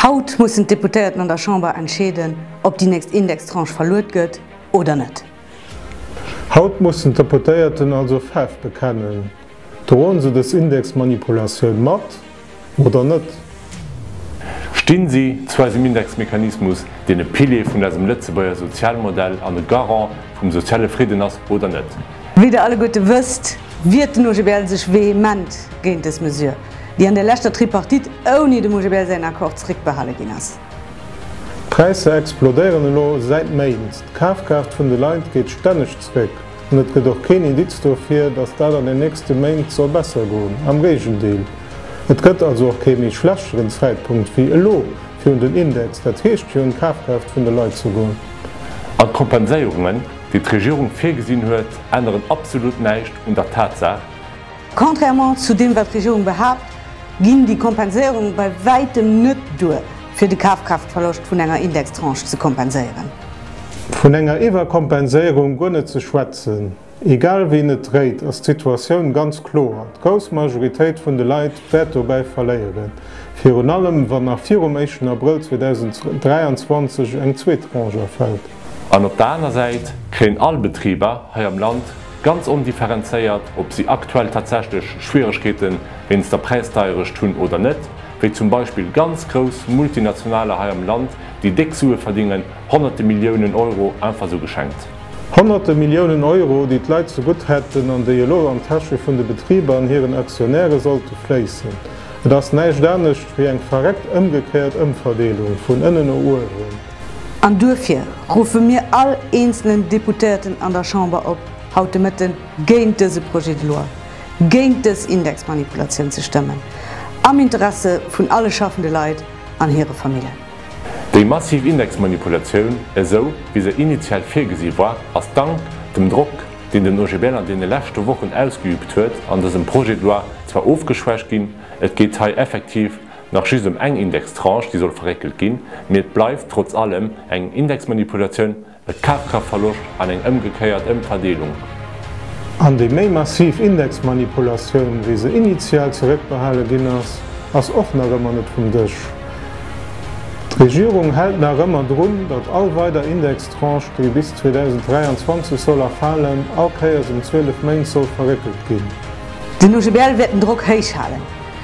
Haut mussen d'Deputéierten an der Chamber entscheeden, ob déi nächst Indextranche verluet gëtt oder net. Haut mussen d'Deputéierten also Faarf bekennen, Droen se dës Indexmanipulatioun mat oder net? Stinn si zu eisem Indexmechanismus, deen e Pilier vun eisem Lëtzebuerger Sozialmodell an e Garant vum soziale Fridden ass oder net? Wéi der alleguerte wësst, wiert den OGBL sech vehement géint dës Mesure, déi an der leschter Tripartite ouni dem OGBL säin Accord zréckbehale ginn ass. D'Präisser explodéieren elo säit Méint, d'Kafkraaft vun de Leit geet stänneg zréck an et gëtt och keen Indiz dofir, datt dat an den nächste Méint soll besser goen, am Géigendeel. Et gëtt also och kee méi schlechteren Zäitpunkt wéi elo fir un den Index, dat heescht fir un d'Kafkraaft vun de Leit ze goen. An d'Kompenséierungen? déi d'Regierung virgesinn huet, änneren absolut näischt un der Tatsaach, Contrairement zu deem, wat d'Regierung behaapt, ginn déi Kompenséierunge bei wäitem net duer, fir de Kafkraaftverloscht vun enger Indextranche ze kompenséieren. Vun enger Iwwerkompenséierung guer net ze schwätzen. Egal wéi een et dréit, ass d'Situatioun ganz kloer, D'grouss Majoritéit vun de Leit wäert dobäi verléieren, virun allem wann nach virum éischten Abrëll 2023 eng zweet Tranche erfält. An op der aner Säit kréien all Betriber hei am Land, ganz ondifferenzéiert ob si aktuell tatsächlech Schwieregkeete wéinst der Präisdeierecht hunn oder net, wéi zum Beispill ganz grouss Multinationaler hei am Land, déi déck Sue verdingen, Honnerte Milliounen Euro einfach esou geschenkt. Honnerte Milliounen Euro, déi d'Leit zegutt hätten an déi elo an d'Täsche vun de Betriber an hiren Aktionäre sollte fléissen. Et ass näischt anescht wéi eng verréckt ëmgekéiert Ëmverdeelung vun ënnen no uewen. An duerfir ruffe mir all eenzelen Deputéierten an der Chamber op, haut de Mëtte géint dëse Projet de loi, géint dës Indexmanipulatioun ze stëmmen, am Interesse vun alle schaffende Leit an hire Familljen. Déi massiv Indexmanipulatioun, esou wéi se initial virgesi war, ass dank dem Drock, deen den OGBL an deene leschte Wochen ausgeübt huet, an dësem Projet de loi zwar ofgeschwächt ginn. Et geet hei effektiv nach just ëm eng Indextranche, déi soll verréckelt ginn, mee et bleift trotz allem eng Indexmanipulatioun. E Kafkraftverloscht an eng ëmgekéiert Ëmverdeelung. An déi méi massiv Indexmanipulatioun, wéi se initial zeréckbehale ginn ass, ass och nach ëmmer net vum Dësch. D'Regierung hält nach ëmmer drun, datt all weider Indextranche, déi bis 2023 soll erfalen, all Kéiers ëm 12 Méint soll verréckelt ginn. Den OGBL wäert den Drock héich halen.